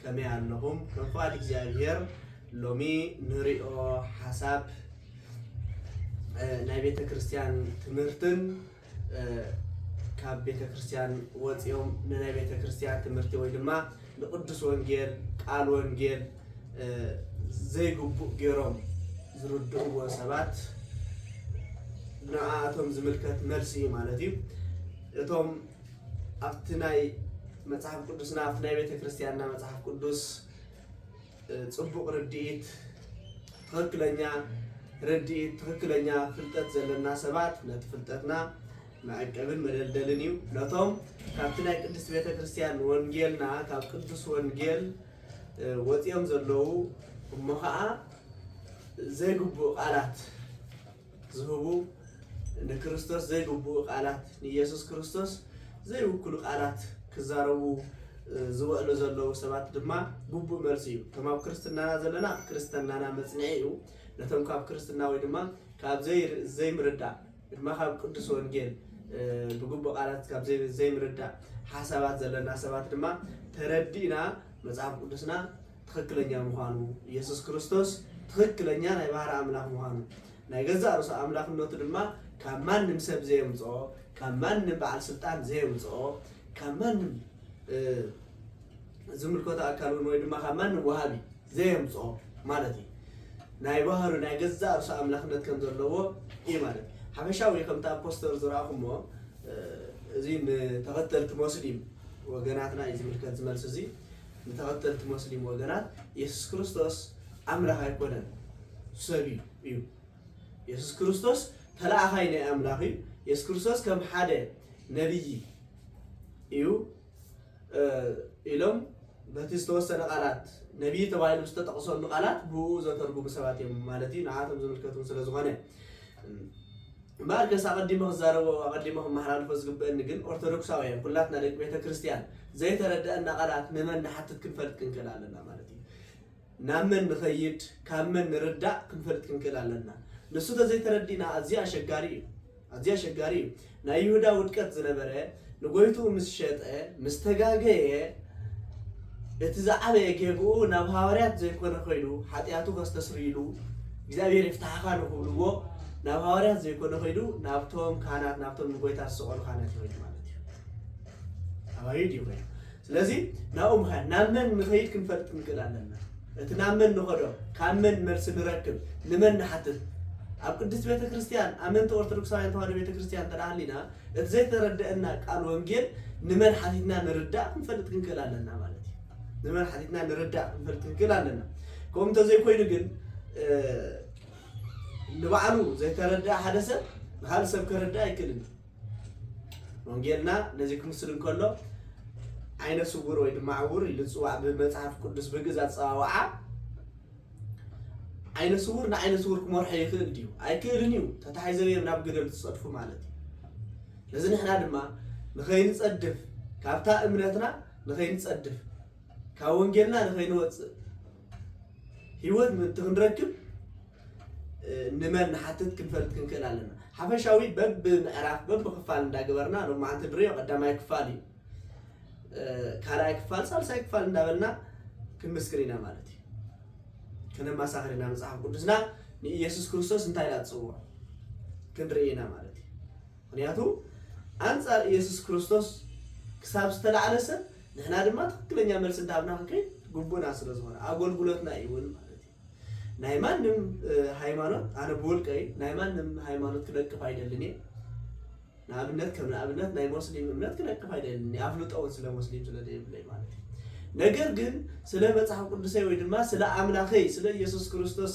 ከመይ ኣለኹም ከም ፍቓድ እግዚኣብሄር ሎሚ ንሪኦ ሓሳብ ናይ ቤተ ክርስቲያን ትምህርትን ካብ ቤተ ክርስቲያን ወፂኦም ንናይ ቤተ ክርስቲያን ትምህርቲ ወይ ድማ ንቅዱስ ወንጌል ቃል ወንጌል ዘይግቡእ ገይሮም ዝርድእዎ ሰባት ንኣቶም ዝምልከት መልሲ እዩ ማለት እዩ እቶም ኣብቲ ናይ መጽሓፍ ቅዱስና ኣብቲ ናይ ቤተ ክርስቲያንና መጽሓፍ ቅዱስ ፅቡቕ ርድኢት ትኽክለኛ ርድኢት ትኽክለኛ ፍልጠት ዘለና ሰባት ነቲ ፍልጠትና መዕቀብን መደልደልን እዩ ነቶም ካብቲ ናይ ቅድስት ቤተ ክርስቲያን ወንጌልና ካብ ቅዱስ ወንጌል ወፂኦም ዘለዉ እሞ ከዓ ዘይግቡእ ቃላት ዝህቡ ንክርስቶስ ዘይግብኡ ቃላት ንኢየሱስ ክርስቶስ ዘይውክሉ ቃላት ክዛረቡ ዝበእሉ ዘለዉ ሰባት ድማ ግቡእ መልሲ እዩ። እቶም ኣብ ክርስትናና ዘለና ክርስትናና መጽንዒ እዩ። ነቶም ካብ ክርስትና ወይ ድማ ካብ ዘይምርዳእ ድማ ካብ ቅዱስ ወንጌል ብግቡእ ቃላት ካብ ዘይምርዳእ ሓሳባት ዘለና ሰባት ድማ ተረዲእና መጽሓፍ ቅዱስና ትኽክለኛ ምዃኑ፣ ኢየሱስ ክርስቶስ ትኽክለኛ ናይ ባህሪ ኣምላኽ ምዃኑ፣ ናይ ገዛእ ርእሱ ኣምላኽነቱ ድማ ካብ ማንም ሰብ ዘየምጽኦ፣ ካብ ማንም በዓል ስልጣን ዘየምጽኦ፣ ካብ ማንም ዝምልከቶ ኣካል እውን ወይ ድማ ካብ ማንም ወሃቢ ዘየምጽኦ ማለት እዩ። ናይ ባህሩ ናይ ገዛእ ርእሱ ኣምላኽነት ከም ዘለዎ እዩ ማለት እዩ። ሓፈሻዊ ከምቲ ኣብ ፖስተር ዝረኣኹሞ እዚ ንተኸተልቲ ሞስሊም ወገናትና እዩ ዝምልከት ዝመልሲ እዚ ንተኸተልቲ ሞስሊም ወገናት የሱስ ክርስቶስ ኣምላኽ ኣይኮነን ሰብ እዩ። የሱስ ክርስቶስ ተለኣኻይ ናይ ኣምላኽ እዩ። የሱስ ክርስቶስ ከም ሓደ ነብዪ እዩ ኢሎም በቲ ዝተወሰነ ቃላት ነብዪ ተባሂሉ ዝተጠቕሰሉ ቃላት ብኡ ዘተርጉሙ ሰባት እዮም ማለት እዩ ንዓቶም ዝምልከት እውን ስለ ዝኾነ እምበኣርከስ ኣቐዲመ ክዛረቦ ኣቐዲመ ከመሓላልፎ ዝግበእኒ ግን ኦርቶዶክሳውያን ኩላትና ደቂ ቤተ ክርስትያን ዘይተረደኣና ቃላት ንመን ንሓትት ክንፈልጥ ክንክእል ኣለና ማለት እዩ። ናብ መን ንኸይድ ካብ መን ንርዳእ ክንፈልጥ ክንክእል ኣለና። ንሱ ተዘይተረዲእና ኣዝዩ ኣሸጋሪ እዩ ኣዝዩ ኣሸጋሪ እዩ። ናይ ይሁዳ ውድቀት ዝነበረ ንጎይትኡ ምስ ሸጠ ምስ ተጋገየ እቲ ዝዓበየ ጌግኡ ናብ ሃዋርያት ዘይኮነ ከይዱ ሓጢኣቱ ከስተስርይ ኢሉ እግዚኣብሔር ይፍታሕኻ ንክብልዎ ናብ ሃዋርያት ዘይኮነ ከይዱ ናብቶም ካህናት ናብቶም ንጎይታ ዝሰቀሉ ካህናት ይኸይዱ ማለት እዩ። ኣባዩ ድዩ ከይዱ ስለዚ ናብኡ ምኻድ፣ ናብ መን ንኸይድ ክንፈልጥ ክንክእል ኣለና። እቲ ናብ መን ንኸዶ፣ ካብ መን መልሲ ንረክብ፣ ንመን ንሓትት። ኣብ ቅድስት ቤተ ክርስቲያን ኣመንቲ ኦርቶዶክሳውያን ተዋህዶ ቤተ ክርስቲያን እንተ ሃሊና እቲ ዘይተረደኣና ቃል ወንጌል ንመን ሓቲትና ንርዳእ ክንፈልጥ ክንክእል ኣለና ማለት እዩ። ንመን ሓቲትና ንርዳእ ክንፈልጥ ክንክእል ኣለና። ከምኡ እንተዘይኮይኑ ግን ንባዕሉ ዘይተረድኣ ሓደ ሰብ ንካልእ ሰብ ከረድእ ኣይክእልን እዩ። ወንጌልና ነዚ ክምስል እንከሎ ዓይነ ስውር ወይ ድማ ዕውር ኢሉ ዝፅዋዕ ብመፅሓፍ ቅዱስ ብግእዝ ኣፀዋውዓ ዓይነ ስውር ንዓይነ ስውር ክመርሖ ይኽእል ድዩ ኣይክእልን እዩ ተታሒዘዮም ናብ ግደል ዝፀድፉ ማለት እዩ ነዚ ንሕና ድማ ንኸይንፀድፍ ካብታ እምነትና ንኸይንፀድፍ ካብ ወንጌልና ንኸይንወፅእ ህይወት ምእንቲ ክንረክብ ንመን ንሓትት ክንፈልጥ ክንክእል ኣለና። ሓፈሻዊ በብምዕራፍ በብክፋል እንዳገበርና ሎማዓንቲ ድርዮ ቀዳማይ ክፋል እዩ ካልኣይ ክፋል ሳልሳይ ክፋል እንዳበልና ክንምስክር ኢና ማለት እዩ። ከነማሳኽር ኢና መፅሓፍ ቅዱስና ንኢየሱስ ክርስቶስ እንታይ ኢላ ትፅውዖ ክንርኢ ኢና ማለት እዩ። ምኽንያቱ ኣንጻር ኢየሱስ ክርስቶስ ክሳብ ዝተላዕለ ሰብ ንሕና ድማ ትኽክለኛ መልሲ እንዳሃብና ክንከይድ ግቡእና ስለ ዝኾነ ኣጎልጉሎትና እዩ ውን ማለት እዩ። ናይ ማንም ሃይማኖት ኣነ ብውልቀይ ናይ ማንም ሃይማኖት ክነቅፍ ኣይደልን እየ። ንኣብነት ከም ንኣብነት ናይ ሞስሊም እምነት ክነቅፍ ኣይደልን እየ ኣፍልጦ ውን ስለ ሞስሊም ስለ ዘይብለይ ማለት እዩ። ነገር ግን ስለ መጽሓፍ ቅዱሰይ ወይ ድማ ስለ ኣምላኸይ ስለ ኢየሱስ ክርስቶስ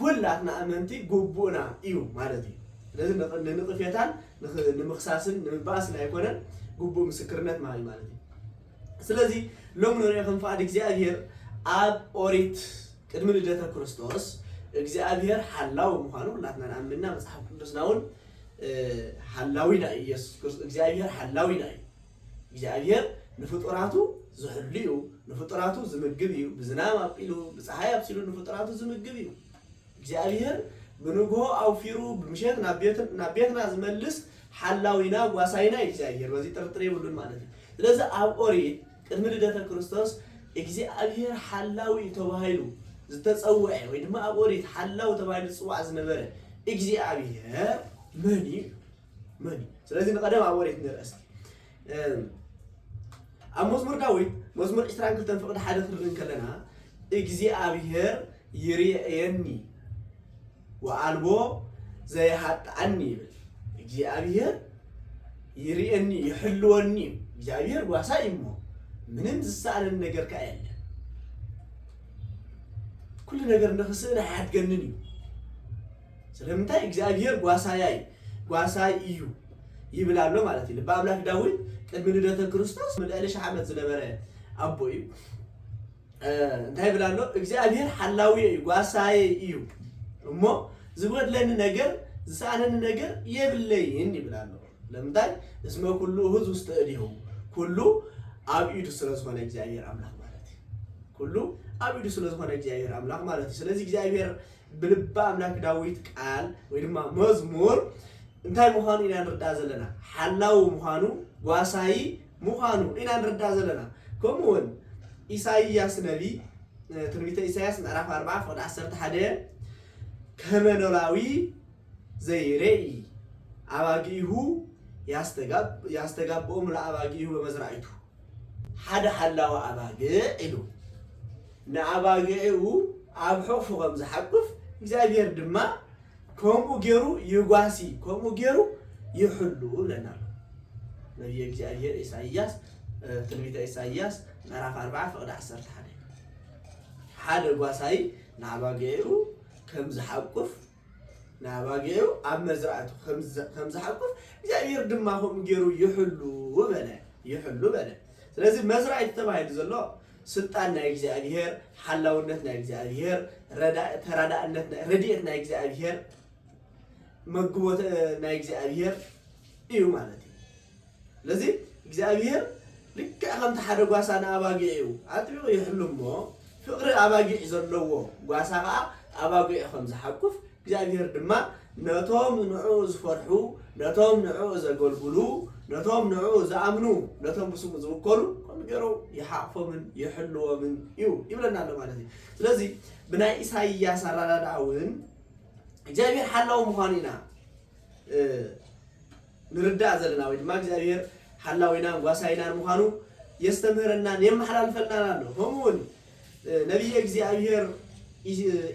ኩላትና ኣመንቲ ጉቡእና እዩ ማለት እዩ ስለዚ ንንቅፌታን ንምክሳስን ንምባኣስን ኣይኮነን ጉቡእ ምስክርነት ምሃብ እዩ ማለት እዩ ስለዚ ሎም ንሪኦ ከም ፍቃድ እግዚኣብሄር ኣብ ኦሪት ቅድሚ ልደተ ክርስቶስ እግዚኣብሄር ሓላዊ ምዃኑ ኩላትና ንኣምንና መጽሓፍ ቅዱስና እውን ሓላዊና እዩ ኢየሱስ ክርስቶስ እግዚኣብሄር ሓላዊና እዩ እግዚኣብሄር ንፍጡራቱ ዝሕሉ እዩ፣ ንፍጡራቱ ዝምግብ እዩ፣ ብዝናም ኣብቂሉ፣ ብፀሓይ ኣብሲሉ ንፍጡራቱ ዝምግብ እዩ። እግዚኣብሄር ብንግሆ ኣውፊሩ ብምሸት ናብ ቤትና ዝመልስ ሓላዊና ጓሳይና እዩ እግዚኣብሄር፣ በዚ ጥርጥር የብሉን ማለት እዩ። ስለዚ ኣብ ኦሪት ቅድሚ ልደተ ክርስቶስ እግዚኣብሄር ሓላዊ እዩ ተባሂሉ ዝተፀውዐ ወይ ድማ ኣብ ኦሪት ሓላው ተባሂሉ ዝፅዋዕ ዝነበረ እግዚኣብሄር መን እዩ? መን እዩ? ስለዚ ንቐደም ኣብ ወሬት ንርኣ እስቲ። ኣብ መዝሙር ዳዊት መዝሙር 22 ፍቕዲ ሓደ ክንርኢ ከለና እግዚኣብሔር ይርኤየኒ ወኣልቦ ዘይሃጥኣኒ ይብል። እግዚኣብሔር ይርኤኒ ይሕልወኒ እዩ። እግዚኣብሔር ጓሳ እዩ እሞ ምንም ዝሰኣነን ነገር ከዓ የለን። ኩሉ ነገር ንኽስእን ኣያድገንን እዩ። ስለምንታይ እግዚኣብሄር ጓሳያይ ጓሳይ እዩ ይብል ኣሎ ማለት እዩ። ልበ ኣምላክ ዳዊት ቅድሚ ልደተ ክርስቶስ ልዕሊ ሽሕ ዓመት ዝነበረ ኣቦ እዩ። እንታይ ይብል ኣሎ? እግዚኣብሄር ሓላውየ እዩ ጓሳየ እዩ እሞ ዝጎድለኒ ነገር ዝሰኣነኒ ነገር የብለይን ይብል ኣሎ። ለምንታይ እስመ ኩሉ እሁዝ ውስተ እዴሁ ኩሉ ኣብ ኢዱ ስለዝኾነ እግዚኣብሄር ኣምላኽ ማለት እዩ። ኩሉ ኣብ ኢዱ ስለዝኾነ እግዚኣብሄር ኣምላኽ ማለት እዩ። ስለዚ እግዚኣብሄር ብልበ ኣምላክ ዳዊት ቃል ወይ ድማ መዝሙር እንታይ ምዃኑ ኢና ንርዳእ ዘለና? ሓላዊ ምዃኑ፣ ጓሳዪ ምዃኑ ኢና ንርዳእ ዘለና። ከምኡ ውን ኢሳይያስ ነቢ ትንቢተ ኢሳይያስ ምዕራፍ ኣርብዓ ፍቕዲ ዓሰርተ ሓደ ከመ ኖላዊ ዘይሬኢ ኣባጊኢሁ ያስተጋብኦም ለኣባጊኢሁ በመዝራኢቱ ሓደ ሓላዊ ኣባግዕ ኢሉ ንኣባጊዑ ኣብ ሕቑፉ ከም ዝሓቁፍ እግዚኣብሔር ድማ ከምኡ ገይሩ ይጓሲ ከምኡ ገይሩ ይሕሉ ብለና ኣሎ ነቢየ እግዚኣብሔር ኢሳይያስ ትንቢተ ኢሳይያስ ምዕራፍ 4 ፍቕዲ 11 ሓደ ጓሳይ ንኣባጊዑ ከም ዝሓቁፍ ንኣባጊዑ ኣብ መዝራእቱ ኸም ዝሓቁፍ እግዚኣብሔር ድማ ከምኡ ገይሩ ይሕሉ በለ ይሕሉ በለ ስለዚ መዝራእቲ ተባሂሉ ዘሎ ስልጣን ናይ እግዚኣብሔር ሓላውነት ናይ እግዚኣብሔር ተራዳእነት ረድኤት ናይ እግዚኣብሔር መግቦት ናይ እግዚኣብሔር እዩ ማለት እዩ ስለዚ እግዚኣብሄር ልክዕ ከምቲ ሓደ ጓሳ ንኣባጊዑ ኣጥቢቑ ይሕሉ እሞ፣ ፍቕሪ ኣባጊዕ ዘለዎ ጓሳ ኸኣ ኣባጊዑ ከም ዝሓቁፍ፣ እግዚኣብሄር ድማ ነቶም ንዕኡ ዝፈርሑ፣ ነቶም ንዕኡ ዘገልግሉ፣ ነቶም ንዕኡ ዝኣምኑ፣ ነቶም ብስሙ ዝውከሉ ከምኡ ገይሩ ይሓቕፎምን ይሕልዎምን እዩ ይብለና ኣሎ ማለት እዩ። ስለዚ ብናይ ኢሳይያስ ኣረዳድኣ እውን እግዚኣብሄር ሓላዊ ምዃኑ ኢና ንርዳእ ዘለና ወይ ድማ እግዚኣብሄር ሓላዊናን ጓሳይናን ምዃኑ የስተምህረናን የመሓላልፈልናን ኣሎ። ከምኡ እውን ነቢየ እግዚኣብሄር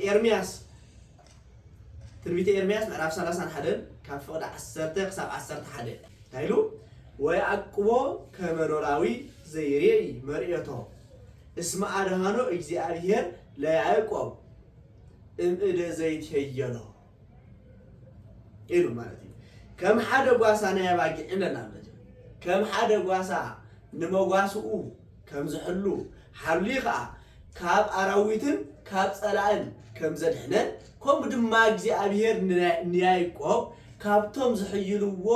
ኤርምያስ ትንቢተ ኤርምያስ ምዕራፍ 30 ሓደን ካብ ፍቕዲ 10 ክሳብ 11 እንታይ ኢሉ ወይኣቅቦ ከመኖራዊ ዘይሬኢ መርኤቶ እስመ ኣድሃኖ እግዚኣብሔር ለያዕቆብ እምእደ ዘይትሄየሎ ኢሉ ማለት እዩ ከም ሓደ ጓሳ ናይ ኣባጊዕ ኢለና ማለት እዩ ከም ሓደ ጓሳ ንመጓስኡ ከም ዝሕሉ ሓሉ ከዓ ካብ ኣራዊትን ካብ ጸላእን ከም ዘድሕነን ከምኡ ድማ እግዚኣብሔር ንያይቆብ ካብቶም ዝሕይልዎ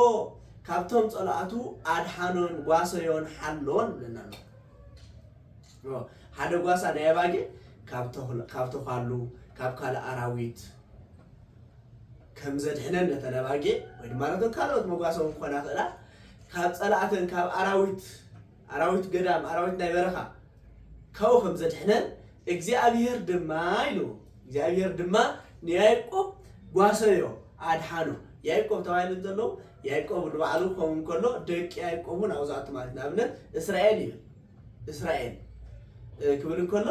ካብቶም ጸላእቱ ኣድሓኖን ጓሰዮን ሓሎን ብለና ኣሎ ሓደ ጓሳ ናይ ኣባጊዕ ካብ ተዃሉ ካብ ካልእ ኣራዊት ከም ዘድሕነን ነተን ኣባጊዕ ወይ ድማ ነቶም ካልኦት መጓሰቡ ክኾና ክእላ ካብ ጸላእተን ካብ ኣራዊት ኣራዊት ገዳም ኣራዊት ናይ በረኻ ካብኡ ከም ዘድሕነን እግዚኣብሄር ድማ ኢሉ እግዚኣብሄር ድማ ንያዕቆብ ጓሰዮ ኣድሓኖ ያዕቆብ ተባሂሉ እንተሎ ያዕቆብ ንባዕሉ ክኸውን ከሎ ደቂ ያዕቆብ እውን ኣብኡ ዝኣቱ ማለት ንኣብነት እስራኤል ይብል እስራኤል ክብል እንከሎ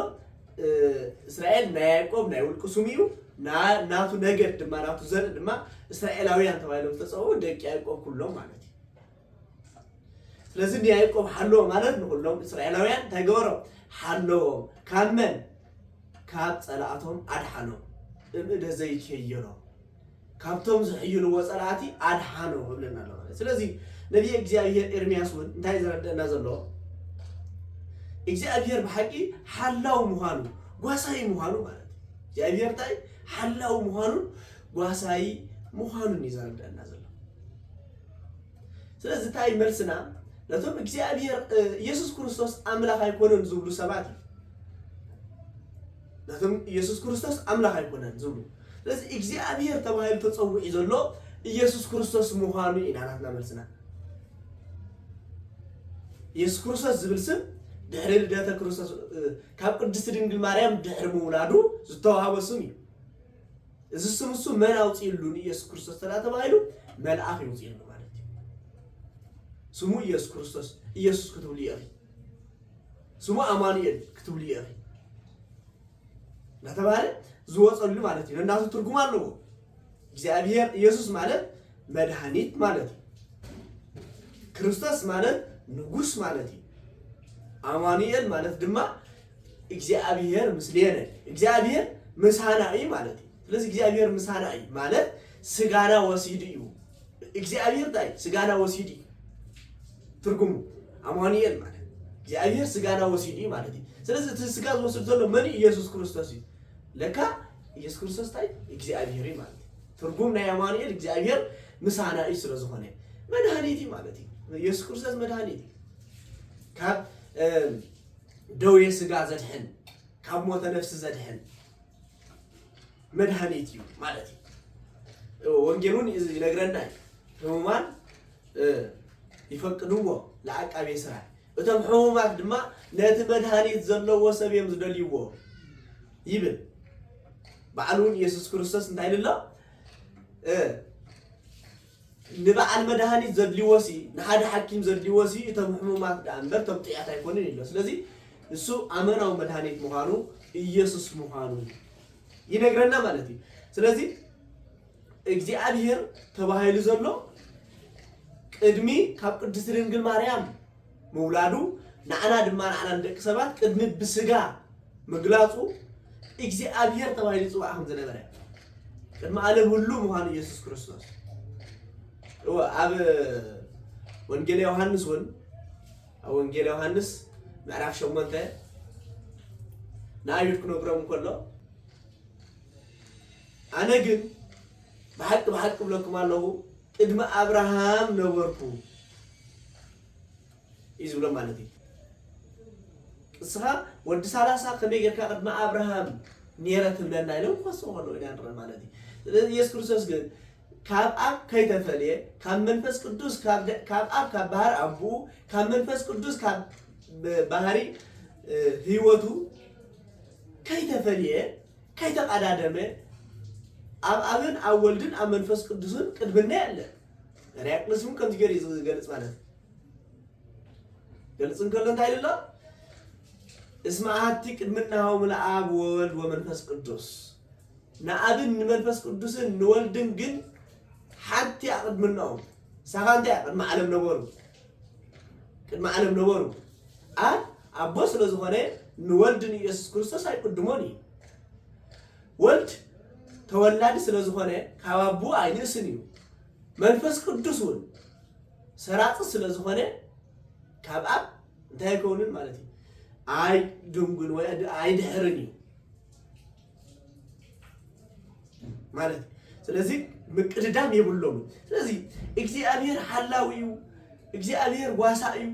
እስራኤል ናይ ያዕቆብ ናይ ውልቁ ስሙ እዩ ናቱ ነገድ ድማ ናቱ ዘርኢ ድማ እስራኤላውያን ተባሂሎም ዝተፀውዑ ደቂ ያዕቆብ ኩሎም ማለት እዩ ስለዚ ንያዕቆብ ሓለዎ ማለት ንኩሎም እስራኤላውያን እንታይ ገበሮም ሓለዎም ካብ መን ካብ ፀላእቶም ኣድሓኖም እምእደ ዘይከየሎም ካብቶም ዝሕይልዎ ጸላእቲ ኣድሓኖ እብለና ኣሎ ማለት ስለዚ ነቢየ እግዚኣብሄር ኤርምያስ እውን እንታይ ዘረድአና ዘሎ እግዚኣብሄር ብሓቂ ሓላው ምዃኑ ጓሳይ ምዃኑ ማለት እግዚኣብሄር እንታይ ሓላው ምዃኑን ጓሳይ ምዃኑን እዩ ዘረድአና ዘሎ ስለዚ እንታይ መልስና ነቶም እግዚኣብሄር ኢየሱስ ክርስቶስ ኣምላኽ ኣይኮነን ዝብሉ ሰባት እዩ ናቶም ኢየሱስ ክርስቶስ ኣምላኽ ኣይኮነን ዝብሉ ስለዚ እግዚኣብሔር ተባሂሉ ተጸዊዑ ዘሎ ኢየሱስ ክርስቶስ ምዃኑ ኢና ናትና መልስና ኢየሱስ ክርስቶስ ዝብል ስም ድሕሪ ልደተ ክርስቶስ ካብ ቅድስቲ ድንግል ማርያም ድሕሪ ምውላዱ ዝተዋህቦ ስም እዩ እዚ ስም እሱ መን ኣውፅኢሉ ንኢየሱስ ክርስቶስ ተዳ ተባሂሉ መልኣኽ ይውፅኢሉ ማለት እዩ ስሙ ኢየሱስ ክርስቶስ ኢየሱስ ክትብሉ እዩ ስሙ ኣማኑኤል ክትብልዮ ኢኺ እናተባህለ ዝወፀሉ ማለት እዩ። ነናቱ ትርጉም ኣለዎ። እግዚኣብሔር ኢየሱስ ማለት መድኃኒት ማለት እዩ። ክርስቶስ ማለት ንጉስ ማለት እዩ። ኣማኑኤል ማለት ድማ እግዚኣብሔር ምስሌነ፣ እግዚኣብሔር ምሳና እዩ ማለት እዩ። ስለዚ እግዚኣብሔር ምሳና እዩ ማለት ስጋና ወሲዱ እዩ እግዚኣብሔር እንታይ ስጋና ወሲዱ እዩ ትርጉሙ ኣማኑኤል ማለት እግዚኣብሔር ስጋና ወሲዱ እዩ ማለት እዩ ስለዚ እቲ ስጋ ዝወስድ ዘሎ መን እዩ ኢየሱስ ክርስቶስ እዩ ለካ ኢየሱስ ክርስቶስ እንታይ እግዚኣብሔር እዩ ማለት እዩ ትርጉም ናይ ኣማኑኤል እግዚኣብሔር ምሳና እዩ ስለ ዝኾነ መድሃኒት እዩ ማለት እዩ ኢየሱስ ክርስቶስ መድሃኒት እዩ ካብ ደዌ ስጋ ዘድሕን ካብ ሞተ ነፍሲ ዘድሕን መድሃኒት እዩ ማለት እዩ። ወንጌሉን ይነግረና እዩ። ሕሙማን ይፈቅድዎ ለዓቃቤ ስራይ እቶም ሕሙማት ድማ ነቲ መድሃኒት ዘለዎ ሰብ እዮም ዝደልይዎ ይብል። ባዕሉ እውን ኢየሱስ ክርስቶስ እንታይ ኢሉ ኣሎ? ንበዓል መድሃኒት ዘድልዎሲ ንሓደ ሓኪም ዘድልዎሲ እቶም ሕሙማት ደኣ እምበር እቶም ጥዕያት ኣይኮኑን ኢሎ ስለዚ ንሱ ኣመናዊ መድሃኒት ምዃኑ ኢየሱስ ምዃኑ ይነግረና ማለት እዩ ስለዚ እግዚኣብሔር ተባሂሉ ዘሎ ቅድሚ ካብ ቅድስቲ ድንግል ማርያም ምውላዱ ንዓና ድማ ንዓና ንደቂ ሰባት ቅድሚ ብስጋ ምግላጹ እግዚኣብሔር ተባሂሉ ይጽዋዕ ከም ዝነበረ ቅድሚ ዓለም ህሉ ምዃኑ ኢየሱስ ክርስቶስ እወ ኣብ ወንጌል ዮሐንስ እውን ኣብ ወንጌል ዮሐንስ ምዕራፍ ሸሞንተ ንኣይሁድ ክነግሮም ከሎ ኣነ ግን ብሓቂ ብሓቂ ብለኩም ኣለኹ ቅድሚ ኣብርሃም ነበርኩ እዩ ዝብሎም ማለት እዩ። ንስኻ ወዲ ሳላሳ ከመይ ጌርካ ቅድሚ ኣብርሃም ኔረ ትብለና ኢሎም ክኸስዎ ከለዉ ኢና ንርኢ ማለት እዩ። ስለዚ ኢየሱስ ክርስቶስ ግን ካብ ኣብ ከይተፈልየ ካብ መንፈስ ቅዱስ ካብ ደ- ካብ ኣብ ካብ ባህሪ ኣቡኡ ካብ መንፈስ ቅዱስ ካብ ብ- ባህሪ እ፣ ህይወቱ ከይተፈልየ ከይተቀዳደመ ኣብ ኣብን ኣብ ወልድን ኣብ መንፈስ ቅዱስን ቅድምና የለን ርያቅ ንስሙ ከምዚ ገይሩ እዩ ዝገልፅ ማለት እዩ ገልፅ እንከሎ እንታይ ኢሉ ኣሎ እስመ ኣሐቲ ቅድምናሆሙ ለኣብ ወወልድ ወመንፈስ ቅዱስ ንኣብን ንመንፈስ ቅዱስን ንወልድን ግን ሓንቲ እያ ቅድምናኦም ሳኻ እንታይ እያ ቅድሚ ዓለም ነበሩ ቅድሚ ዓለም ነበሩ ኣብ ኣቦ ስለ ዝኾነ ንወልድ ንኢየሱስ ክርስቶስ ኣይቅድሞን እዩ ወልድ ተወላዲ ስለ ዝኾነ ካብ ኣቦኡ ኣይንእስን እዩ፣ መንፈስ ቅዱስ እውን ሰራጺ ስለ ዝኾነ ካብ ኣብ እንታይ ኣይከውንን ማለት እዩ፣ ኣይድንጉን ወይ ኣይድሕርን እዩ ማለት እዩ። ስለዚ ምቅድዳም የብሎምን። ስለዚ እግዚኣብሔር ሓላዊ እዩ፣ እግዚኣብሔር ጓሳ እዩ።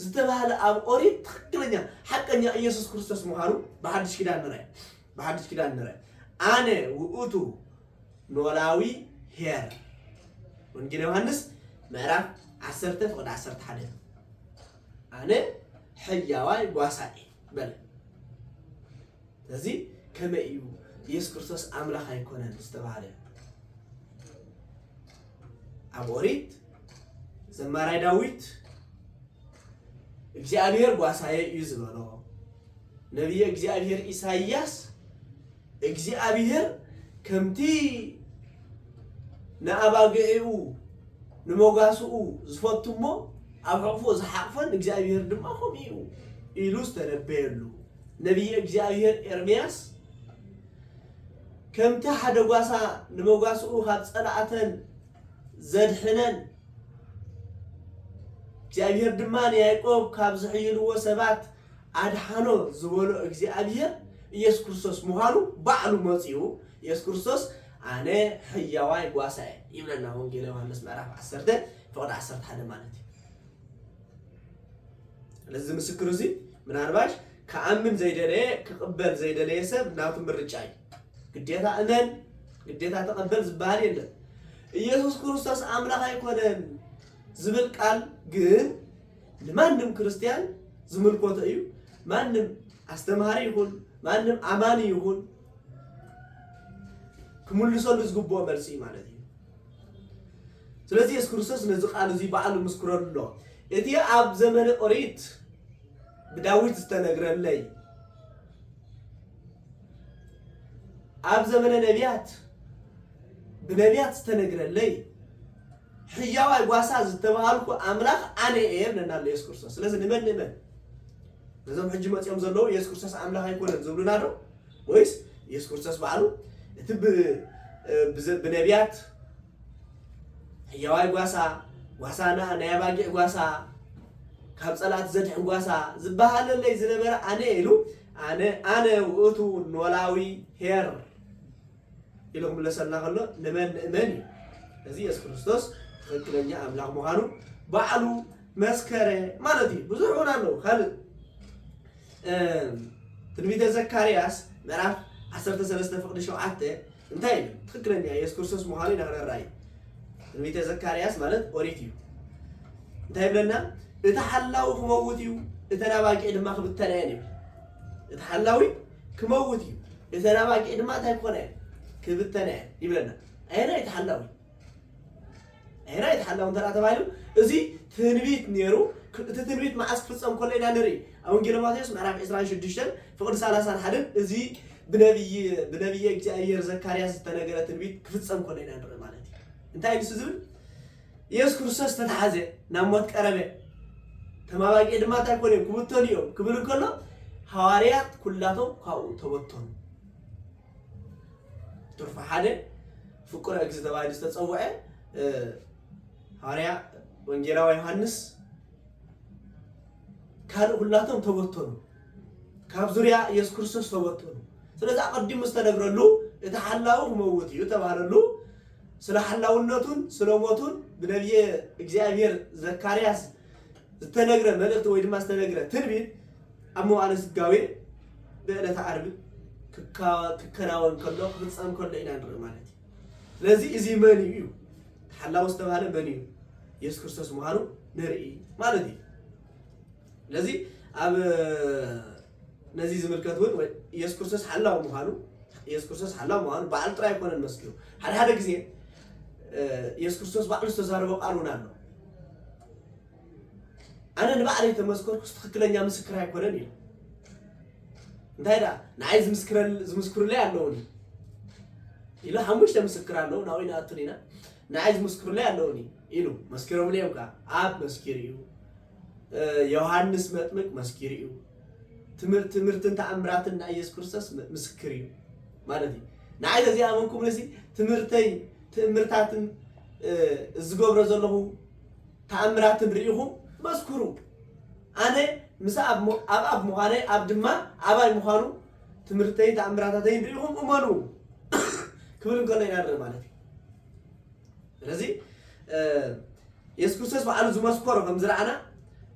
ዝተባህለ ኣብ ኦሪት ትክክለኛ ሓቀኛ ኢየሱስ ክርስቶስ ምዃኑ ብሓድሽ ኪዳን ንርኣይ ብሓድሽ ኪዳን ንርኣይ ኣነ ውእቱ ኖላዊ ሄር ወንጌል ዮሐንስ ምዕራፍ 10 ፍቅድ 11 ኣነ ሕያዋይ ጓሳኤ በለ እዚ ከመይ እዩ ኢየሱስ ክርስቶስ ኣምላኽ ኣይኮነን ዝተባህለ? ኣብ ኦሪት ዘማራይ ዳዊት እግዚኣብሔር ጓሳየ እዩ ዝበሎ ነቢየ እግዚኣብሔር ኢሳይያስ እግዚኣብሔር ከምቲ ንኣባግዒኡ ንመጓስኡ ዝፈቱ እሞ ኣብ ሕቕፎ ዝሓቕፈን እግዚኣብሔር ድማ ከምኡ እዩ ኢሉ ዝተነበየሉ ነብዪ እግዚኣብሄር ኤርምያስ፣ ከምቲ ሓደ ጓሳ ንመጓስኡ ኻብ ጸላእተን ዘድሕነን፣ እግዚኣብሄር ድማ ንያእቆብ ካብ ዚሕይልዎ ሰባት ኣድሓኖ ዝበሎ እግዚኣብሄር፣ ኢየሱስ ክርስቶስ ምዃኑ ባዕሉ መጺኡ፣ ኢየሱስ ክርስቶስ ኣነ ሕያዋይ ጓሳ እየ ይብለና። ወንጌለ ዮሃንስ ምዕራፍ ዓሰርተ ፍቕዲ ዓሰርተ ሓደ ማለት እዩ። ስለዚ ምስክር እዚ ምናልባሽ ክኣምን ዘይደለየ ክቕበል ዘይደለየ ሰብ ናቱ ምርጫ እዩ ግዴታ እመን ግዴታ ተቐበል ዝበሃል የለን ኢየሱስ ክርስቶስ ኣምላኽ ኣይኮነን ዝብል ቃል ግን ንማንም ክርስቲያን ዝምልኮቶ እዩ ማንም ኣስተምሃሪ ይኹን ማንም ኣማኒ ይኹን ክምልሰሉ ዝግብኦ መልሲ እዩ ማለት እዩ ስለዚ የሱስ ክርስቶስ ነዚ ቃል እዚ ባዕሉ ምስክረሉ ኣሎ። እቲ ኣብ ዘመነ ኦሪት ብዳዊት ዝተነግረለይ ኣብ ዘመነ ነቢያት ብነቢያት ዝተነግረለይ ሕያዋይ ጓሳ ዝተባሃልኩ ኣምላኽ ኣነ እየ ይብለና ኣሎ የሱስ ክርስቶስ። ስለዚ ንመን ንእመን? ነዞም ሕጂ መፂኦም ዘለዉ የሱስ ክርስቶስ ኣምላኽ ኣይኮነን ዝብሉና ዶ ወይስ ኢየሱስ ክርስቶስ ባዕሉ እቲ ብነቢያት ሕያዋይ ጓሳ ጓሳ ናይ ኣባጊዕ ጓሳ ካብ ጸላእቲ ዘድሕን ጓሳ ዝበሃለለይ ዝነበረ ኣነ ኢሉ ኣነ ኣነ ውእቱ ኖላዊ ኄር ኢሉ ክምለሰልና ከሎ ንመን ንእመን እዩ። እዚ የሱስ ክርስቶስ ትኽክለኛ ኣምላኽ ምዃኑ ባዕሉ መስከረ ማለት እዩ። ብዙሕ እውን ኣለዉ ካልእ ትንቢተ ዘካርያስ ምዕራፍ 13 ፍቅዲ 7 እንታይ እዩ ትክክለኛ የሱስ ክርስቶስ ምዃኑ ኢና ክንራእይ ትንቢተ ዘካርያስ ማለት ኦሪት እዩ እንታይ ይብለና እቲ ሓላዊ ክመውት እዩ እተን ኣባጊዕ ድማ ክብተና እየን ይብል እቲ ሓላዊ ክመውት እዩ እተን ኣባጊዕ ድማ እንታይ ክኾና እየን ክብተና እየን ይብለና ኣየናይ እቲ ሓላዊ ኣየናይ እቲ ሓላዊ እንተ ተባሂሉ እዚ ትንቢት ነይሩ እቲ ትንቢት መዓስ ክፍፀም ከሎ ኢና ንርኢ ኣብ ወንጌል ማቴዎስ ምዕራፍ 26 ፍቕዲ 30 ሓደን እዚ ብነብይ ብነብየ እግዚኣብሔር ዘካርያስ ዝተነገረ ትንቢት ክፍፀም ከሎ ኢና ንርኢ ማለት እዩ እንታይ ንሱ ዝብል ኢየሱስ ክርስቶስ ተታሓዘ፣ ናብ ሞት ቀረበ፣ እቶም ኣባጊዕ ድማ እንታይ ኮኑ እዮም? ክብተኑ እዮም ክብል እንከሎ ሃዋርያት ኩላቶም ካብኡ ተበተኑ። ትርፉ ሓደ ፍቁረ እግዚእ ተባሂሉ ዝተጸውዐ ሃዋርያ ወንጌላዊ ዮሃንስ ካልእ ኩላቶም ተበተኑ፣ ካብ ዙርያ ኢየሱስ ክርስቶስ ተበተኑ። ስለዚ ኣቐዲሙ ዝተነግረሉ እቲ ሓላዊ ክመውት እዩ ተባህለሉ። ስለ ሓላውነቱን ስለ ሞቱን ብነብየ እግዚኣብሔር ዘካርያስ ዝተነግረ መልእኽቲ ወይ ድማ ዝተነግረ ትንቢት ኣብ መዋዕለ ስጋዌ ብዕለተ ዓርቢ ክከናወን ከሎ ክፍፀም ከሎ ኢና ንርኢ ማለት እዩ። ስለዚ እዚ መን እዩ እዩ ተሓላዊ ዝተባሃለ መን እዩ ኢየሱስ ክርስቶስ ምዃኑ ንርኢ ማለት እዩ። ስለዚ ኣብ ነዚ ዝምልከት እውን ኢየሱስ ክርስቶስ ሓላው ምዃኑ ኢየሱስ ክርስቶስ ሓላው ምዃኑ ባዕሉ ጥራይ ኣይኮነን መስኪሩ ሓደ ሓደ ግዜ ኢየሱስ ክርስቶስ ባዕሉ ዝተዛረቦ ቃል እውን ኣሎ ኣነ ንባዕለይ ተመስከርኩስ ትኽክለኛ ምስክር ኣይኮነን ኢሉ እንታይ ደኣ ንዓይ ዝምስክሩለይ ኣለውኒ ኢሉ ሓሙሽተ ምስክር ኣለዉ ናብኡ ይንኣቱን ኢና ንዓይ ዝምስክሩለይ ኣለውኒ ኢሉ መስኪሮምለይ እዮም ከዓ ኣብ መስኪር እዩ ዮሃንስ መጥምቅ መስኪሩ እዩ ትምህርት ትምህርትን ተኣምራትን ናይ ኢየሱስ ክርስቶስ ምስክር እዩ ማለት እዩ ንዓይ ተዚ ኣመንኩም ንሲ ትምህርተይ ትእምርታትን ዝገብሮ ዘለኹ ተኣምራትን ርኢኹም መስክሩ ኣነ ምስ ኣብ ኣብ ኣብ ምዃነይ ኣብ ድማ ኣባይ ምዃኑ ትምህርተይን ተኣምራታተይን ርኢኹም እመኑ ክብል እንከሎ ኢና ንርኢ ማለት እዩ ስለዚ የሱስ ክርስቶስ ባዕሉ ዝመስከሮ ከም ዝረኣና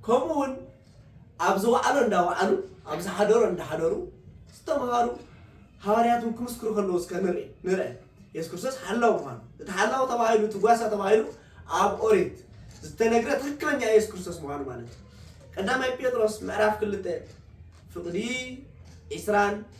ከምኡ እውን ኣብ ዝወዓሎ እንዳወዓሉ ኣብ ዝሓደሮ እንዳሓደሩ ዝተምሃሩ ሃዋርያት እውን ክምስክሩ ከለዉ እስከ ንርኢ ንርአ የሱስ ክርስቶስ ሓላው ምዃኑ እቲ ሓላው ተባሂሉ እቲ ጓሳ ተባሂሉ ኣብ ኦሪት ዝተነግረ ትክክለኛ የሱስ ክርስቶስ ምዃኑ ማለት እዩ ቀዳማይ ጴጥሮስ ምዕራፍ ክልተ ፍቕዲ ዒስራን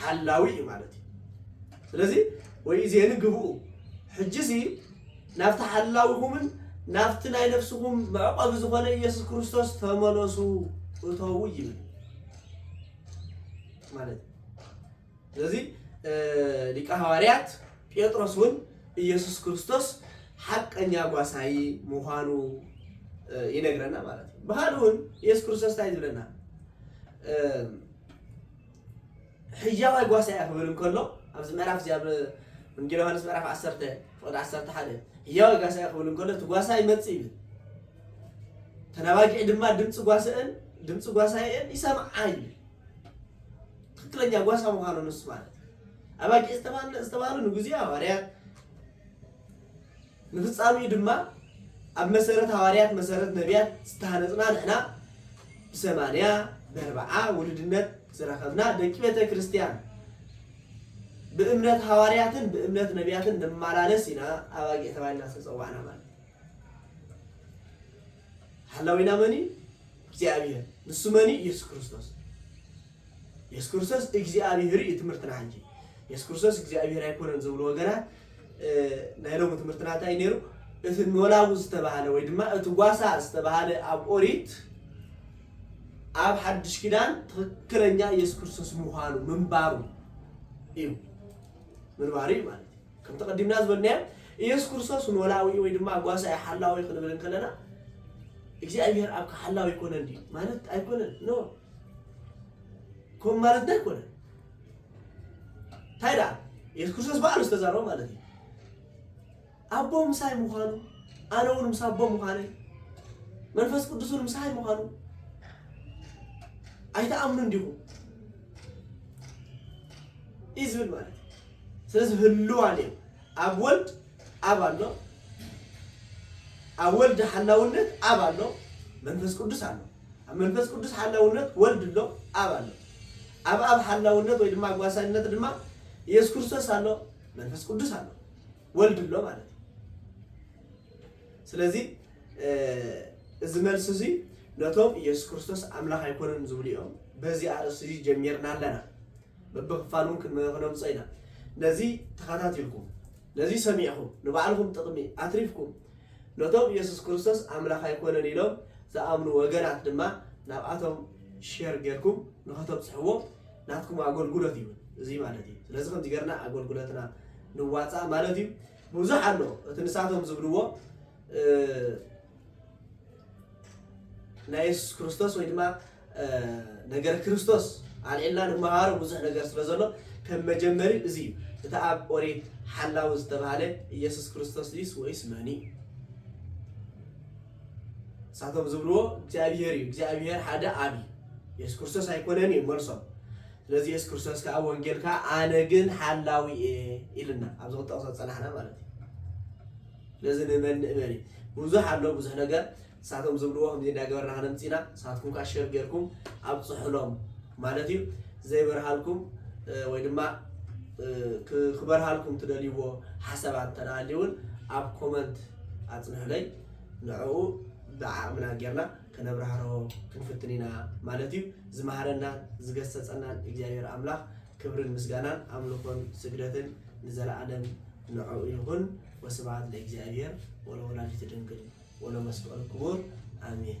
ሓላዊ እዩ ማለት እዩ ስለዚ ወይ ዜን ግብኡ ሕጂ እዚ ናብቲ ሓላዊኹምን ናብቲ ናይ ነፍስኹም መዕቆቢ ዝኾነ ኢየሱስ ክርስቶስ ተመለሱ እተዉ ይብል ማለት እዩ ስለዚ ሊቀ ሃዋርያት ጴጥሮስ እውን ኢየሱስ ክርስቶስ ሓቀኛ ጓሳይ ምዃኑ ይነግረና ማለት እዩ ባህል እውን ኢየሱስ ክርስቶስ እንታይ ዝብለና ሕያዋይ ጓሳ እያ ክብል እንከሎ ኣብዚ ምዕራፍ እዚ ኣብ ወንጌል ዮሃንስ ምዕራፍ 10 ፍቕዲ 11 ሕያዋይ ጓሳ እያ ክብል እንከሎ እቲ ጓሳ ይመፅእ ይብል ተናባጊዒ ድማ ድምፂ ጓስአን ድምፂ ጓሳየን ይሰምዓ ይብል ትክክለኛ ጓሳ ምዃኑ ንሱ ማለት ኣባጊዕ ዝተባህሉ ንግዜ ሃዋርያት ንፍጻሜኡ ድማ ኣብ መሰረት ሃዋርያት መሰረት ነብያት ዝተሃነጽና ንሕና ብሰማንያ በርብዓ ውሉድነት ዝረኸብና ደቂ ቤተ ክርስቲያን ብእምነት ሃዋርያትን ብእምነት ነብያትን ንማላለስ ኢና ኣባጊዕ ተባሂልና ዝተጸዋዕና ማለት እዩ። ሓላዊና መን እዩ? እግዚኣብሄር። ንሱ መን እዩ? ኢየሱስ ክርስቶስ። ኢየሱስ ክርስቶስ እግዚኣብሄር እዩ ትምህርትና ሕጂ። ኢየሱስ ክርስቶስ እግዚኣብሄር ኣይኮነን ዝብሉ ወገናት ናይ ሎሚ ትምህርትና እንታይ ነይሩ? እቲ ኖላዊ ዝተባህለ ወይ ድማ እቲ ጓሳ ዝተባህለ ኣብ ኦሪት ኣብ ሓድሽ ኪዳን ትኽክለኛ ኢየሱስ ክርስቶስ ምዃኑ ምንባሩ እዩ ምንባሩ እዩ ማለት እዩ። ከምቲ ቀዲምና ዝበልናዮ ኢየሱስ ክርስቶስ ኖላዊ ወይ ድማ ጓሳኢ ሓላዊ ክንብል እንከለና እግዚኣብሔር ኣብካ ሓላዊ ኣይኮነን ድዩ ማለት ኣይኮነን ኖ ከምኡ ማለትና ኣይኮነን እንታይ ደኣ ኢየሱስ ክርስቶስ ባዕሉ ዝተዛረቦ ማለት እዩ ኣቦ ምሳይ ምዃኑ ኣነ እውን ምስ ኣቦ ምዃነይ መንፈስ ቅዱስ እውን ምሳይ ምዃኑ ኣይትኣምኑን ዲኹም እዩ ዝብል ማለት እዩ ስለዚ ህልዋ ኔሩ ኣብ ወልድ ኣብ ኣሎ ኣብ ወልድ ሓላውነት ኣብ ኣሎ መንፈስ ቅዱስ ኣሎ ኣብ መንፈስ ቅዱስ ሓላውነት ወልድ ኣሎ ኣብ ኣሎ ኣብ ኣብ ሓላውነት ወይ ድማ ጓሳይነት ድማ ኢየሱስ ክርስቶስ ኣሎ መንፈስ ቅዱስ ኣሎ ወልድ ኣሎ ማለት እዩ ስለዚ እዚ መልሲ እዚ ነቶም ኢየሱስ ክርስቶስ ኣምላኽ ኣይኮነን ዝብሉ እዮም በዚ ኣርእስቲ እዚ ጀሚርና ኣለና በብክፋል እውን ክነምፆ ኢና። ነዚ ተኸታቲልኩም ነዚ ሰሚዕኹም ንባዕልኹም ጥቕሚ ኣትሪፍኩም ነቶም ኢየሱስ ክርስቶስ ኣምላኽ ኣይኮነን ኢሎም ዝኣምኑ ወገናት ድማ ናብኣቶም ሼር ጌርኩም ንኸተብፅሕዎ ናትኩም ኣገልግሎት እዩ እዚ ማለት እዩ። ስለዚ ከምዚ ጌርና ኣገልግሎትና ንዋፃእ ማለት እዩ። ብዙሕ ኣሎ እቲ ንሳቶም ዝብልዎ ናይ የሱስ ክርስቶስ ወይ ድማ ነገረ ክርስቶስ ኣልዒልና ንመሃሮ ብዙሕ ነገር ስለ ዘሎ ከም መጀመሪ እዚ እዩ እቲ ኣብ ኦሪት ሓላዊ ዝተባህለ ኢየሱስ ክርስቶስ ድዩስ ወይስ መን እዩ ንሳቶም ዝብልዎ እግዚኣብሄር እዩ እግዚኣብሄር ሓደ ኣብ እዩ የሱስ ክርስቶስ ኣይኮነን እዩ መልሶም ስለዚ የሱስ ክርስቶስ ከዓ ወንጌል ከዓ ኣነ ግን ሓላዊ እየ ኢልና ኣብዚ ክጠቕሶ ዝፀናሕና ማለት እዩ ስለዚ ንመን ንእመን እዩ ብዙሕ ኣሎ ብዙሕ ነገር ንሳቶም ዝብልዎ ከምዚ እንዳገበርና ከነምጽእ ኢና ንሳትኩም ከኣ ሸር ጌርኩም ኣብጽሑሎም ማለት እዩ ዘይበርሃልኩም ወይ ድማ ክበርሃልኩም ትደልይዎ ሓሳባት እንተ ሃልዩ እውን ኣብ ኮመንት ኣጽንሑለይ ንዕኡ ብዓቕምና ጌርና ከነብራህርሆ ክንፍትን ኢና ማለት እዩ ዝመሃረናን ዝገሰጸናን እግዚኣብሔር ኣምላኽ ክብርን ምስጋናን ኣምልኾን ስግደትን ንዘለኣለም ንዕኡ ይኹን ወስብሃት ለእግዚኣብሔር ወለወላዲቱ ድንግል ወለመስቀሉ ክቡር ኣሜን።